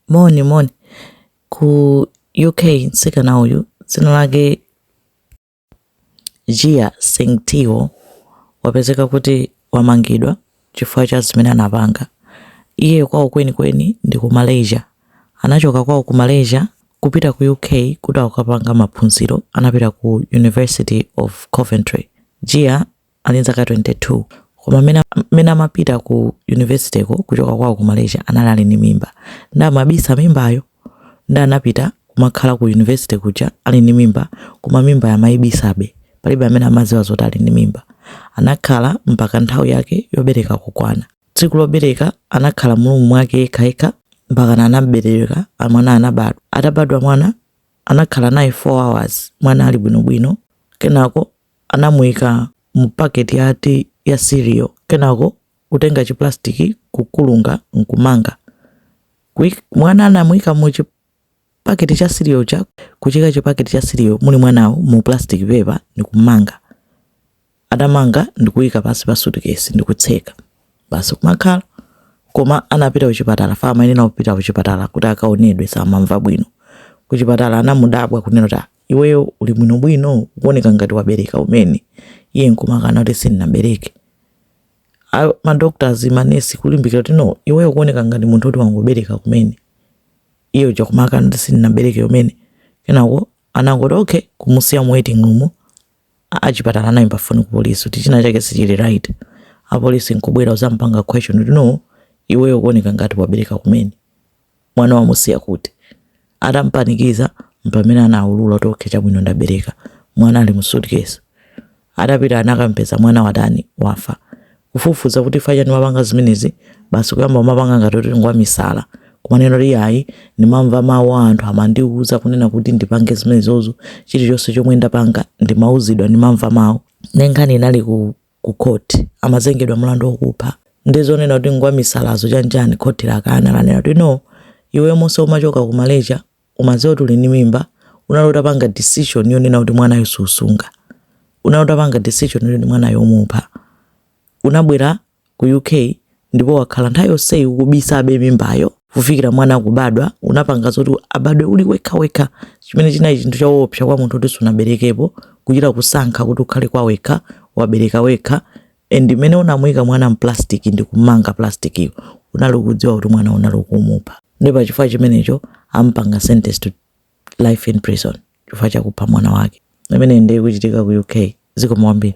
moni moni ku uk mtsikana uyu dzina lake Jia Xin Teo wapezeka kuti wamangidwa chifukwa cha zimene anapanga iye kwawo kwenikweni ndi ku malaysia anachoka kwawo ku malaysia kupita ku uk kuti akapanga maphunziro anapita ku university of coventry jia ali ndi zaka 22 koma mmene mmene amapita ku yunivesiteko kuchoka kwawo ku malaysia anali ali ndi mimba nde amabisa mimbayo nde anapita kumakhala ku yunivesite kuja ali ndi mimba koma mimba amayibisabe palibe amene amadziwa zoti ali ndi mimba anakhala mpaka nthawi yake yobereka kukwana tsiku lobereka anakhala mu room mwake yekhayekha mpaka anabereka mwana anabadwa atabadwa mwana anakhala naye 4 hours mwana ali bwinobwino kenako Anamuika mu paketi ya ya cereal kenako kutenga chi plastic kukulunga nkumanga. Kuik, mwana anamuika mu chi paketi cha cereal chija kuchiika chi paketi cha cereal muli mwanawo mu plastic paper nikumanga. Atamanga ndikuika pansi pa suitcase ndikutseka. Basi kumakhala koma anapita kuchipatala from there ndi kupita kuchipatala kuti akaonedwe samamva bwino. Kuchipatala anamudabwa kunena kuti Iweyo uli bwinobwino ukuoneka ngati wabereka kumene iye nkumakana kuti sindinabereke madoctors manesi kulimbikira kuti no iweyo ukuoneka ngati munthu kuti wangobereka kumene iye uja kumakana kuti sindinabereke kumene kenako anangoti okay kumusiya mu waiting room achipatala anayimba foni ku polisi kuti china chake sichili right apolisi nkubwera kuzampanga question kuti no iweyo ukuoneka ngati wabereka kumene mwana wamusiya kuti atampanikiza mpamene anaulula kuti okay chabwino ndabereka mwana ali mu suitcase atapita anakampeza mwana watani wafa kufufuza kuti chifukwa chani umapanga zimenezi basi kuyamba kumapanga ngati kuti ngwa misala kumanena kuti ayi ndimamva mawu a anthu amandiuza kunena kuti ndipange zimenezozo chilichonse chomwe ndapanga ndimauzidwa ndimamva mawu nde nkhani inali ku ku court amazengedwa mlandu wokupha nde zonena kuti ngwamisalazo chanchani khoti lakana lanena kuti no iweyo monse umachoka ku malaysia umaziwa kuti uli ndi mimba unali utapanga decision yonena kuti mwanayo susunga unali utapanga decision yonena kuti mwanayo umupha unabwera ku uk ndipo wakhala nthawi yonseyi ukubisabe mimbayo kufikira mwana kubadwa unapanga zoti abadwe uli wekhawekha chimene chinali chinthu chowopsa kwa munthu kuti sunaberekepo kuchita kusankha kuti ukhale kwa wekha wabereka wekha and mmene unamuyika mwana mplastic ndi kumanga plastikiyo unali ukudziwa kuti mwana unali ukumupha ndi pachifukwa chimenecho ampanga sentence to life in prison chifukwa chakupha mwana wake imene ndi yikuchitika ku uk zikomo kwambiri